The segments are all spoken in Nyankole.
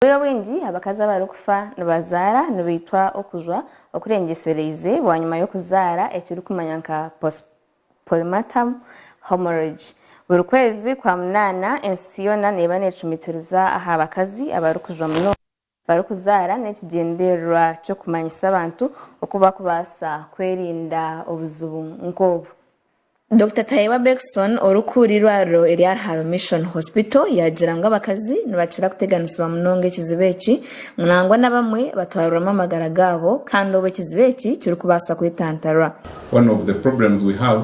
Obwire obwingi abakazi abarikufa nibazaara nibaitwa okujwa okurengyesereize bwanyima y'okuzaara ekirikumanywa nka postpartum hemorrhage. Buri kwezi kwa munaana ensi yoona neeba neecumitiriza aha bakazi abarikujwa munonga barikuzaara n'ekigyendererwa ky'okumanyisa abantu oku barikubaasa kwerinda obuzibu nk'obu. Dokita Tayewa Beckson orikukura eirwariro erya Rharo Mission Hospital yaagira ngu abakazi nibakira kuteganisibwa munonga ekizibu eki ngu nangwa n'abamwe batwarirwamu amagara gaabo kandi obu ekizibu eki kirikubaasa kwetantarwa. One of the problems we have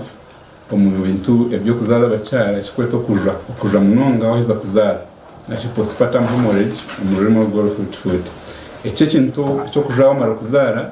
omu bintu eby'okuzaara abakyara ekikweta okuja okuja munonga waheza kuzaara nari postpartum hemorrhage omu rurimi orw'orufuutifuuti. Eki ekintu eky'okuja wamara kuzaara.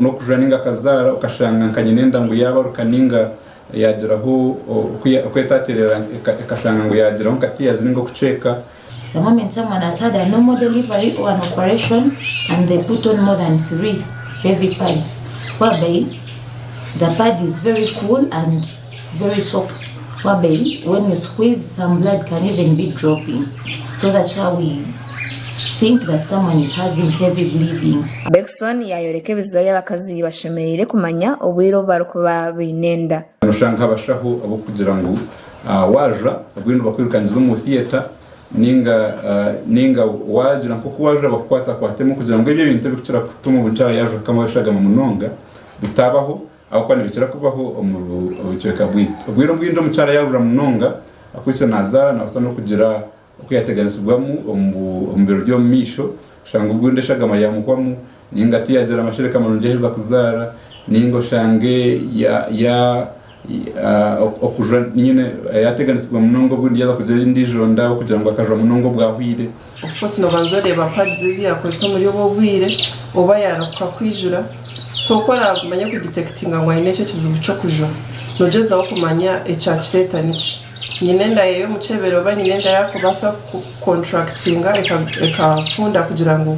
n'okujura nainga akazaara okashanga nka nyine endagu yaabaruka nainga yaagiraho oku etaateerera ekashanga ngu yaagiraho nka tears nainga okucweeka. The moment someone has had a normal delivery or an operation and they put on more than three heavy pads whereby the pad is very full and very soaked whereby when you squeeze some blood can even be dropping so that's why we Bergson yaayoreka ebiziba ebi abakazi bashemereire kumanya obwire obu barikuba baine enda. Nooshusha nk'abashaho ab'okugira ngu waaja obwire nibakwirukangiza omu theatre nainga waagira nk'oku waaja bakukwatakwatemu kugira ngu ebyo ebintu ebirikukira kutuma omuntu yaaba yaaja kukama abashagama munonga bitaabaho ahabw'okuba nibikira kubaho omu bucweka bwaitu. Obwire obwingi omukyara yaarura munonga akwaitse naazaara naabaasa n'okugira Oku yaateganisibwamu omu biro by'omumaisho, oshange obwo enda eshagama yaamuhwamu, nainga tiyaagira amashereka marungi yaaheza kuzaara, nainga oshange yaateganisibwa munonga obwo enda yaaza kugira endiijo nda ahabw'okugira ngu akajwa munonga obwahweire. Ofcourse noobanza oreeba pads ezi yaakozesa omuri obwo obwire oba yaarahuka kwijura, so oku oraamanye kuditektinga ngu aine ekyo ekizibu ky'okujwa, noogyezaho kumanya ekyakireeta niki. Nyine enda ye y'omukyebere oba nyine enda yakubaasa ku contractinga ekafunda kugira ngu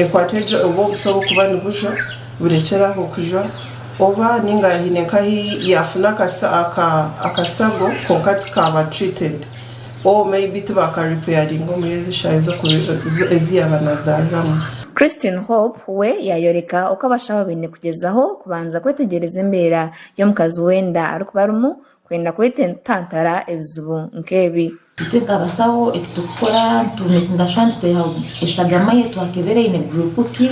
ekwate egyo obwo obuso obukuba nibujwa burekyere aho kujwa oba ninga hine nka ahi yafuna akasago kwonka tikaba treated or maybe tibaka repairinga omuri ezo eshaaha ezi yaba nazariramu. Christine Hope we yayoreka oku abashaho baine kugyezaho kubanza kwetegyereza embeera y'omukazi w'enda arikuba arimu Kwenda kwetantara ebizibu nk'ebi. Titwekabasaho eki turikukora, nitugashusha ngu tweha eshagama ei twakebera eine guruupu ki.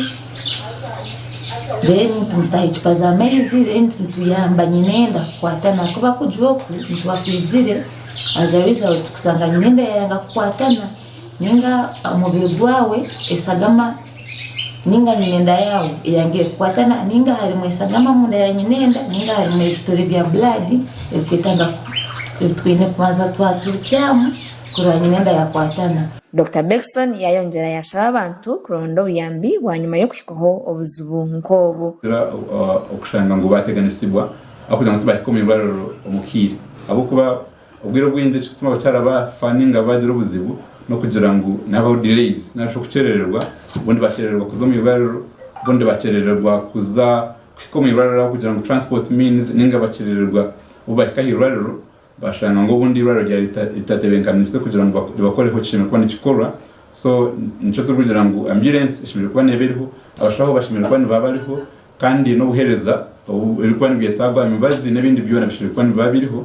Reero nitumutaho ecupa z'amaizi, reero nituyamba nyenenda kukwatana ahakuba kugira oku nikuba kwizire, as a result, kushanga nyenenda yaayanga kukwatana. Ninga omubiri gwawe esagama ninga nyina enda yaawe eyangire kukwatana ninga harimu esagama omunda ya nyina enda ninga harimu ebitore bya bulaadi ebitwetaaga ebi twine kubanza twaturikyamu kurora nyina enda yaakwatana. Dokita Bengtson yaayongyera yaashaba abantu kuronda obuyambi bwanyima y'okuhikwaho obuzibu nk'obu. Tugira okushanga ngu baateganisibwa ahabw'okugira ngu tibahika omu irwariro omu kiire ahabw'okuba. Obwire obwingi ekirikutuma abakyara ba fa ninga baagira obuzibu n'okugira ngu nihabaho delays narishi okukyerererwa, obundi bakyerererwa kuza omu irwariro, obundi bakyerererwa kuza kuhika omu irwariro ahabw'okugira ngu transport means ninga bakyerererwa obu bahika aha irwariro bashanga ngu obundi irwariro ryaba ritatebekanise kugira ngu ribakoreho ekishemereire kuba nikikorwa so nikyo turikugira ngu ambulance eshemereire kuba neeba eriho, abashaho bashemereire kuba niba bariho. Kandi n'obuheereza obu biri kuba nibwetaagwa, emibazi n'ebindi byona bishemereire kuba nibiba biriho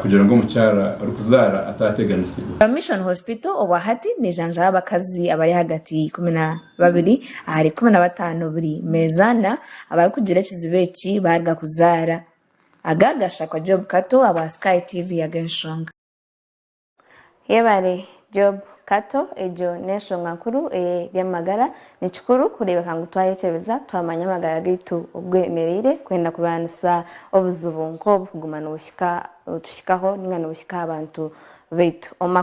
kugira ngu omukyara orikuzaara ataateganisibwa. Bar Mission Hospital obwa hati neejanjaba abakazi abari ahagati y'eikumi na babiri ahari ikumi na bataano buri meeza ana abarikugira ekizibu eki baaruga kuzaara. Aga gashakwa Job Kato abwa Sky TV aga enshonga. Yebare Job Kato egyo n'enshonga nkuru eye by'amagara nikikuru kureebeka ngu twayekyebeza twamanya amagara gaitu oku gemereire kwenda kurwanisa obuzibu nk'obu kuguma nibuhika otuhikaho ninga nibuhika aha bantu baitu.